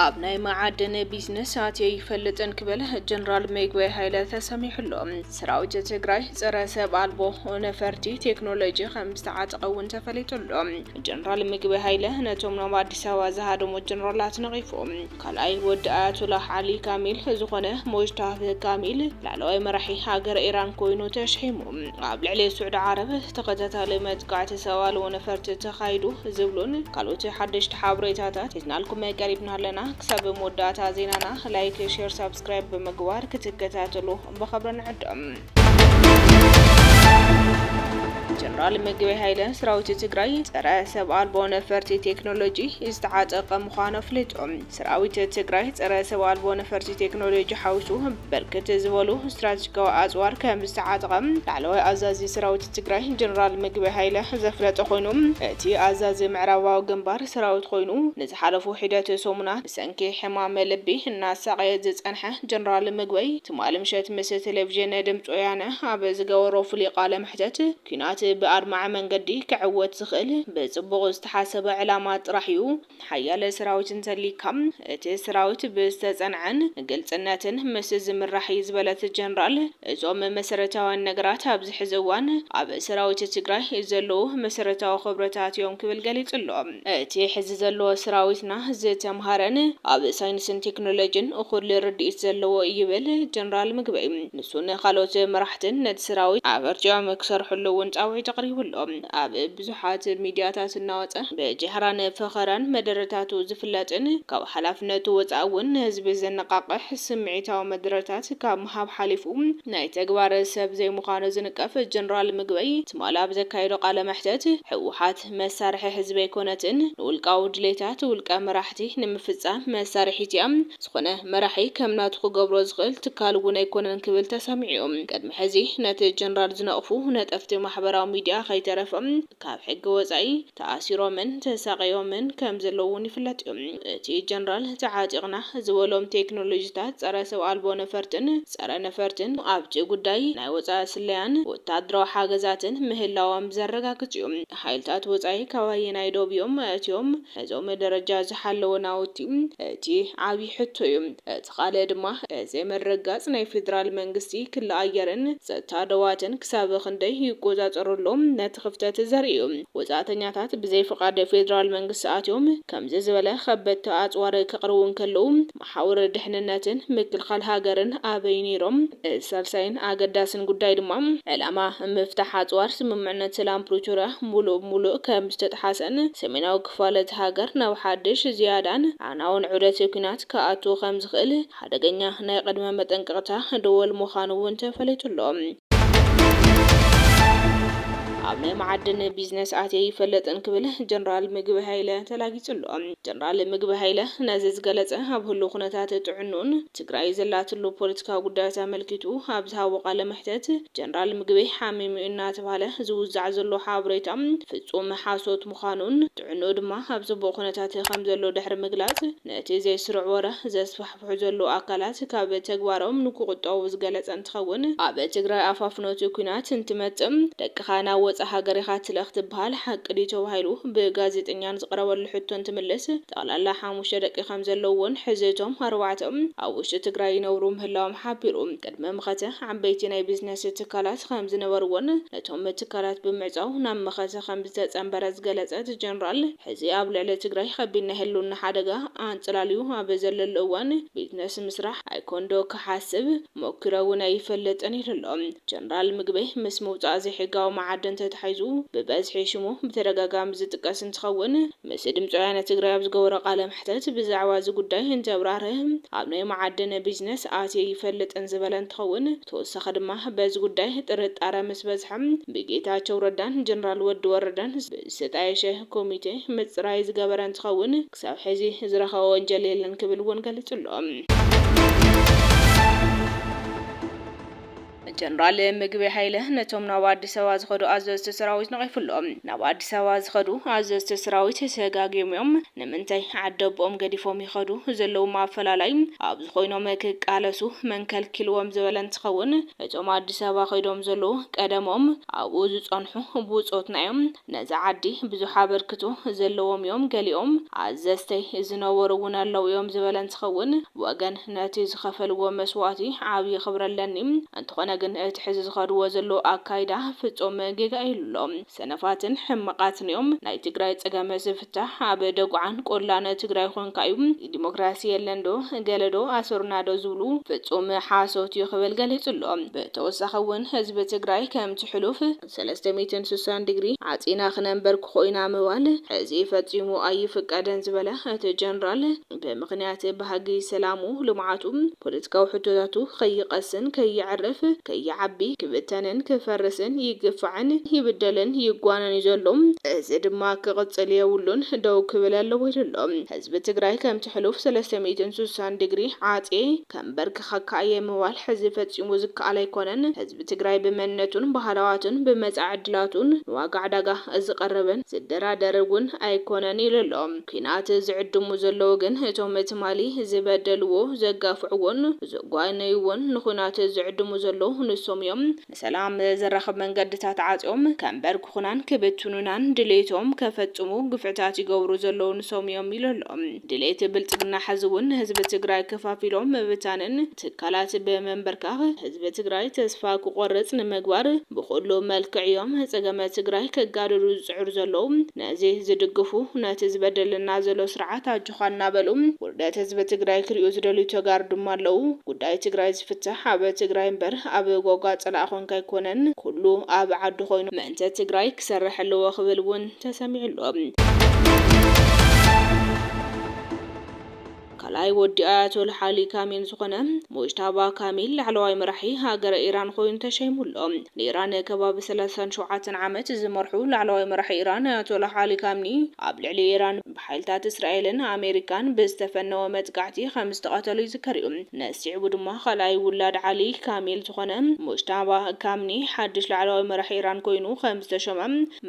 ኣብ ናይ መዓድን ቢዝነስ ኣትየ ይፈልጥን ክብል ጀነራል ምግበይ ሃይለ ተሰሚዑ ኣሎ። ሰራዊት ትግራይ ፀረ ሰብ ኣልቦ ነፈርቲ ቴክኖሎጂ ከም ዝተዓጠቐ እውን ተፈሊጡ ኣሎ። ጀነራል ምግበይ ሃይለ ነቶም ናብ ኣዲስ ኣበባ ዝሃደሙ ጀነራላት ነቒፉ። ካልኣይ ወዲ ኣያቱላህ ዓሊ ካሚል ዝኾነ ሞጅታብህ ካሚል ላዕለዋይ መራሒ ሃገረ ኢራን ኮይኑ ተሽሒሙ ኣብ ልዕሊ ሱዕዲ ዓረብ ተኸታታሊ መጥቃዕቲ ሰብ ኣልቦ ነፈርቲ ተኻይዱ ዝብሉን ካልኦት ሓደሽቲ ሓበሬታታት ሒዝናልኩም ቀሪብና ኣለና። ክሳብ መወዳእታ ዜናና ላይክ ሼር ሳብስክራይብ ብምግባር ክትከታተሉ ብኽብሪ ንዕድም። ጀነራል ምግበይ ሃይለ ሰራዊት ትግራይ ፀረ ሰብ ኣልቦ ነፈርቲ ቴክኖሎጂ ዝተዓጠቐ ምዃኑ ኣፍሊጡ። ሰራዊት ትግራይ ፀረ ሰብ ኣልቦ ነፈርቲ ቴክኖሎጂ ሓዊሱ ብርክት ዝበሉ ስትራቴጂካዊ ኣፅዋር ከምዝተዓጠቐ ላዕለዋይ ኣዛዚ ሰራዊት ትግራይ ጀነራል ምግበይ ሃይለ ዘፍለጠ ኮይኑ እቲ ኣዛዚ ምዕራባዊ ግንባር ሰራዊት ኮይኑ ንዝሓለፉ ሒደት ሰሙናት ብሰንኪ ሕማም ልቢ እናሳቐየ ዝፀንሐ ጀነራል ምግበይ ትማሊ ምሸት ምስ ቴሌቪዥን ድምፂ ወያነ ኣብ ዝገበሮ ፍሉይ ቃለ መሕተት ኲናት ብኣድማዒ መንገዲ ክዕወት ዝኽእል ብፅቡቕ ዝተሓሰበ ዕላማ ጥራሕ ዩ፣ ሓያለ ሰራዊት እንተልይካ እቲ ሰራዊት ብዝተፀንዐን ግልፅነትን ምስ ዝምራሕ ዩ ዝበለት ጀነራል እዞም መሰረታውያን ነገራት ኣብዚ ሕዚ እዋን ኣብ ሰራዊት ትግራይ ዘለዉ መሰረታዊ ክብርታት ዮም ክብል ገሊፁ ኣሎ። እቲ ሕዚ ዘሎ ስራዊትና ዝተምሃረን ኣብ ሳይንስን ቴክኖሎጅን እኹል ርድኢት ዘለዎ እዩ ይብል ጀነራል ምግበይ። ንሱ ንካልኦት መራሕትን ነቲ ስራዊት ኣበርቲዖም ክሰርሕሉ እውን ፃውዒት ኣቕሪቡ ኣሎ። ኣብ ብዙሓት ሚድያታት እናወፀ ብጃህራን ፈኸራን መደረታቱ ዝፍለጥን ካብ ሓላፍነቱ ወፃኢ እውን ንህዝቢ ዘነቓቕሕ ስምዒታዊ መደረታት ካብ ምሃብ ሓሊፉ ናይ ተግባር ሰብ ዘይምዃኑ ዝንቀፍ ጀነራል ምግበይ ትማሊ ኣብ ዘካየዶ ቃለ መሕተት ህወሓት መሳርሒ ህዝቢ ኣይኮነትን፣ ንውልቃዊ ድሌታት ውልቀ መራሕቲ ንምፍጻም መሳርሒት እያ፣ ዝኾነ መራሒ ከም ናቱ ክገብሮ ዝኽእል ትካል እውን ኣይኮነን ክብል ተሰሚዑ እዩ። ቅድሚ ሕዚ ነቲ ጀነራል ዝነቕፉ ነጠፍቲ ማሕበራዊ ሚዲያ ከይተረፈ ካብ ሕጊ ወጻኢ ተኣሲሮምን ተሳቕዮምን ከም ዘለዉ እውን ይፍለጥ እዩ። እቲ ጀነራል ተዓጢቕና ዝበሎም ቴክኖሎጂታት ጸረ ሰብ ኣልቦ ነፈርትን፣ ጸረ ነፈርትን ኣብቲ ጉዳይ ናይ ወጻኢ ስለያን ወተሃደራዊ ሓገዛትን ምህላዎም ዘረጋግጽ እዩ። ሓይልታት ወጻኢ ካብ ኣየናይ ዶብ እዮም ኣእትዮም ነዞም ደረጃ ዝሓለወ ናውቲ? እቲ ዓቢ ሕቶ እዩ። እቲ ካልእ ድማ ብዘይ ምርግጋጽ ናይ ፌደራል መንግስቲ ክሊ ኣየርን ጸጥታ ዶባትን ክሳብ ክንደይ ይቆጻጸሮ ኣሎ ነቲ ክፍተት ዘርኢ እዩ። ወጻእተኛታት ብዘይ ፍቓድ ፌደራል መንግስቲ ኣትዮም ከምዚ ዝበለ ከበድቲ ኣጽዋር ከቕርቡ እንከለዉ፣ ሓውር ድሕንነትን ምክልኻል ሃገርን ኣበይ ነይሮም? እቲ ሳልሳይን ኣገዳሲን ጉዳይ ድማ፣ ዕላማ ምፍታሕ ኣጽዋር ስምምዕነት ሰላም ፕሪቶርያ ሙሉእ ብሙሉእ ከምዝተጥሓሰን ሰሜናዊ ክፋል እታ ሃገር ናብ ሓድሽ፣ ዝያዳን ኣዕናውን ዑደት ኲናት ክኣቱ ከምዝኽእል ሓደገኛ ናይ ቅድመ መጠንቀቕታ ደወል ምዃኑ እውን ተፈሊጡ ኣሎ። ኣብ ናይ መዓድን ቢዝነስ ኣትየ ኣይፈልጥን ክብል ጀነራል ምግበይ ሃይለ ተላጊጹ ኣሎ። ጀነራል ምግበይ ሃይለ ነዚ ዝገለፀ ኣብ ህሉው ኩነታት ጥዕንኡን ትግራይ ዘላትሉ ፖለቲካዊ ጉዳያት ኣመልኪቱ ኣብ ዝሃቦ ቃለ መሕተት ጀነራል ምግበይ ሓሚሙ እዩ እናተብሃለ ዝውዛዕ ዘሎ ሓበሬታ ፍፁም ሓሶት ምዃኑን ጥዕንኡ ድማ ኣብ ፅቡቕ ኩነታት ከምዘሎ ድሕሪ ምግላፅ ነቲ ዘይስሩዕ ወረ ዘስፋሕፍሑ ዝሰርሑ ዘለዉ ኣካላት ካብ ተግባሮም ንክቑጠቡ ዝገለፀ እንትኸውን፣ ኣብ ትግራይ ኣፋፍኖቲ ኲናት እንትመፅእ ደቅኻ ናብ ወፃእ ሃገር ኢኻ ትልእኽ ትብሃል ሓቂ ድዩ ተባሂሉ ብጋዜጠኛ ንዝቐረበሉ ሕቶ እንትምልስ ጠቕላላ ሓሙሽተ ደቂ ከምዘለዉዎን ሕዚ እቶም ኣርባዕተ ኣብ ውሽጢ ትግራይ ይነብሩ ምህላዎም ሓቢሩ። ቅድሚ መኸተ ዓበይቲ ናይ ቢዝነስ ትካላት ከምዝነበርዎን ነቶም ትካላት ብምዕፃው ናብ መኸተ ከምዝተፀምበረ ዝገለፀ እቲ ጀነራል፣ ሕዚ ኣብ ልዕሊ ትግራይ ኸቢድ ናይ ህልውና ሓደጋ ኣንፀላልዩ ኣብ ዘለሉ እዋን ቢዝነስ ምስራሕ ኣይኮን ዶ ክሓስብ ሞኪረ እውን ኣይፈልጥን ኢሉ ኣሎ። ጀነራል ምግበይ ምስ ምውፃእ ዘይሕጋዊ መዓድን ተተሓሒዙ ብበዝሒ ሽሙ ብተደጋጋሚ ዝጥቀስ እንትኸውን፣ ምስ ድምፂ ወያነ ትግራይ ኣብ ዝገበሮ ቃለ መሕተት ብዛዕባ እዚ ጉዳይ እንተብራህርህ ኣብ ናይ መዓድን ቢዝነስ ኣትየ ኣይፈልጥን ዝበለ እንትኸውን፣ ተወሳኺ ድማ በዚ ጉዳይ ጥርጣረ ምስ በዝሐ ብጌታቸው ረዳን ጀነራል ወዲ ወረደን ብዝተጣየሸ ኮሚቴ ምፅራይ ዝገበረ እንትኸውን ክሳብ ሕዚ ዝረኸቦ ወንጀል የለን ክብል እውን ገሊፁ ኣሎ። ጀነራል ምግበይ ሃይለ ነቶም ናብ ኣዲስ ኣበባ ዝኸዱ ኣዘዝቲ ሰራዊት ነቒፉ ኣሎ። ናብ ኣዲስ ኣበባ ዝኸዱ ኣዘዝቲ ሰራዊት ተጋግዮም እዮም፣ ንምንታይ ዓዲ ኣቦኦም ገዲፎም ይኸዱ ዘለዉም ኣፈላላይ ኣብዚ ኮይኖም ክቃለሱ መን ከልኪልዎም ዝበለ እንትኸውን እቶም ኣዲስ ኣበባ ከይዶም ዘለዉ ቀደሞም ኣብኡ ዝፀንሑ ብፆትና እዮም ነዛ ዓዲ ብዙሕ ኣበርክቶ ዘለዎም እዮም ገሊኦም ኣዘዝተይ ዝነበሩ እውን ኣለው እዮም ዝበለ እንትኸውን ወገን ነቲ ዝኸፈልዎ መስዋእቲ ዓብዪ ክብሪ ኣለኒ እንተኾነ ግን እቲ ሕዚ ዝኸድዎ ዘለዉ ኣካይዳ ፍፁም ጌጋ ኢሉ ኣሎ። ሰነፋትን ሕማቃትንዮም ናይ ትግራይ ፀገም ዝፍታሕ ኣብ ደጉዓን ቆላን ትግራይ ኾንካ እዩ ዲሞክራሲ የለን ዶ ገለ ዶ ኣሰሩና ዶ ዝብሉ ፍፁም ሓሶት እዩ ክብል ገሊፁ ኣሎ ብተወሳኺ እውን ህዝቢ ትግራይ ከምቲ ሕሉፍ ሰለስተ ሚእትን ስሳን ዲግሪ ዓፂና ክነንበርክኾ ኢና ምባል ሕዚ ፈፂሙ ኣይፍቀድን ዝበለ እቲ ጀነራል ብምኽንያት ባህጊ ሰላሙ፣ ልምዓቱ፣ ፖለቲካዊ ሕቶታቱ ከይቐስን ከየዕርፍ፣ ከይዓቢ፣ ክብተንን ክፈርስን፣ ይግፋዕን ይብደልን ይጓነን እዩ ዘሎ። እዚ ድማ ክቕፅል የብሉን ደው ክብል ኣለዎ ኢሉ ኣሎ። ህዝቢ ትግራይ ከምቲ ሕሉፍ ሰለስተ ሚእትን ስሳን ዲግሪ ዓፅየ ከምበርክኸካ እየ ምባል ሕዚ ፈፂሙ ዝከኣል ኣይኮነን። ህዝቢ ትግራይ ብመንነቱን ባህላዋትን ብመፃኢ ዕድላቱን ንዋጋ ዕዳጋ ዝቐርብን ዝደራደር እውን ኣይኮነን ኢሉ ኣሎ። ኲናት ዝዕድሙ ዘለዉ ግን እቶም ትማሊ ዝበደልዎ፣ ዘጋፍዕዎን ዘጓነይዎን ንዂናት ዝዕድሙ ዘለዉ ንሶም እዮም። ንሰላም ዘራኽብ መንገድታት ዓጽዮም ከንበርክኹናን ክብትኑናን ድሌቶም ከፈጽሙ ግፍዕታት ይገብሩ ዘለዉ ንሶም እዮም ኢሉ ኣሎ። ድሌት ብልጽግና ሕዚ እውን ንህዝቢ ትግራይ ከፋፊሎም ምብታንን ትካላት ብምንብርካኽ ህዝቢ ትግራይ ተስፋ ክቖርጽ ንምግባር ብኹሉ መልክዕ እዮም ፀገመ ትግራይ ከጋድዱ ዝጽዕሩ ዘለዉ። ነዚ ዝድግፉ ነቲ ዝበደለና ዘሎ ስርዓት ኣጆኻ እናበሉ ውርደት ህዝቢ ትግራይ ክሪኡ ዝደልዩ ተጋሩ ድማ ኣለው። ጉዳይ ትግራይ ዝፍታሕ ኣብ ትግራይ እምበር ኣብ ጎጋ ፀላኢ ኮንካ ኣይኮነን ኩሉ ኣብ ዓዱ ኮይኑ ምእንተ ትግራይ ክሰርሕ ኣለዎ ክብል እውን ተሰሚዑ ኣሎ። ካልኣይ ወዲ ኣያቶል ሓሊ ካሚን ዝኾነ ሙጅታባ ካሚል ላዕለዋይ መራሒ ሃገረ ኢራን ኮይኑ ተሸይሙ ኣሎ። ንኢራን ከባቢ ሰላሳን ሸውዓተን ዓመት ዝመርሑ ላዕለዋይ መራሒ ኢራን ኣያቶላ ሓሊ ካሚኒ ኣብ ልዕሊ ኢራን ብሓይልታት እስራኤልን ኣሜሪካን ብዝተፈነወ መጥቃዕቲ ከም ዝተቐተሉ ይዝከር እዩ። ነዚ ስዒቡ ድማ ካልኣይ ውላድ ዓሊ ካሚል ዝኾነ ሙጅታባ ካሚኒ ሓድሽ ላዕለዋይ መራሒ ኢራን ኮይኑ ከም ዝተሾመ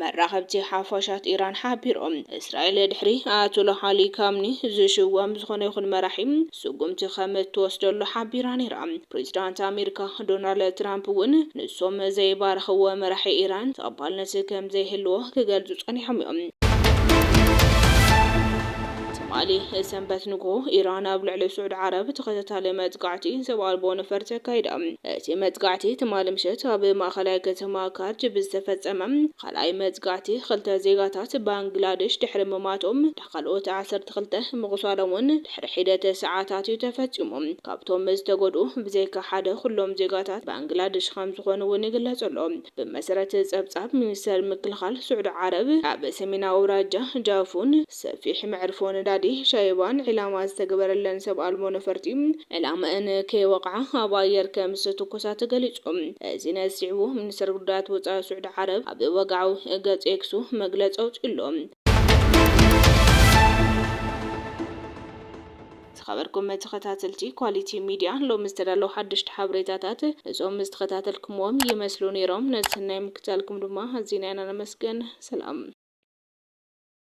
መራኸብቲ ሓፋሻት ኢራን ሓቢሩ። እስራኤል ድሕሪ ኣያቶላህ ዓሊ ካምኒ ዝሽወም ዝኾነ ይኹን መራሒ ስጉምቲ ከም እትወስደሉ ሓቢራ ነይራ። ፕሬዝዳንት ኣሜሪካ ዶናልድ ትራምፕ እውን ንሶም ዘይባረኽዎ መራሒ ኢራን ተቐባልነት ከም ዘይህልዎ ክገልፁ ፀኒሖም እዮም። ትማሊ ሰንበት ንጉሆ ኢራን ኣብ ልዕሊ ስዑድ ዓረብ ተኸታታሊ መጥቃዕቲ ሰብ ኣልቦ ነፈርቲ ኣካይዳ። እቲ መጥቃዕቲ ትማሊ ምሸት ኣብ ማእኸላይ ከተማ ካርጅ ብዝተፈፀመ ኻልኣይ መጥቃዕቲ ኽልተ ዜጋታት ባንግላዴሽ ድሕሪ ምሟቶም ዳካልኦት ዓሰርተ ክልተ ምቑሳሎም ውን ድሕሪ ሒደት ሰዓታት ዩ ተፈፂሙ። ካብቶም ዝተጎድኡ ብዘይካ ሓደ ኹሎም ዜጋታት ባንግላዴሽ ኸምዝኾኑ ውን ይግለፅ'ሎ። ብመሰረት ፀብፃብ ሚኒስተር ምክልኻል ስዑዲ ዓረብ ኣብ ሰሜናዊ ኣውራጃ ጃፉን ሰፊሕ መዕርፎ ነዳዲ ሻይባን ዒላማ ዝተገበረለን ሰብ ኣልቦ ነፈርቲ ዕላማኤን ከይወቕዓ ኣብ ኣየር ከም ዝተተኮሳ ተገሊጹ። እዚ ነዚ ስዒቡ ሚኒስተር ጉዳያት ወጻኢ ስዑዲ ዓረብ ኣብ ወግዓዊ ገጽ ኤክሱ መግለጺ ኣውጺኡ ኣሎ። ዝኸበርኩም ተኸታተልቲ ኳሊቲ ሚድያ ሎሚ ዝተዳለዉ ሓደሽቲ ሓበሬታታት እዞም ዝተኸታተልኩምዎም ይመስሉ ኔሮም። ነቲ ናይ ምክትታልኩም ድማ ኣዚና ኢና ነመስግን። ሰላም።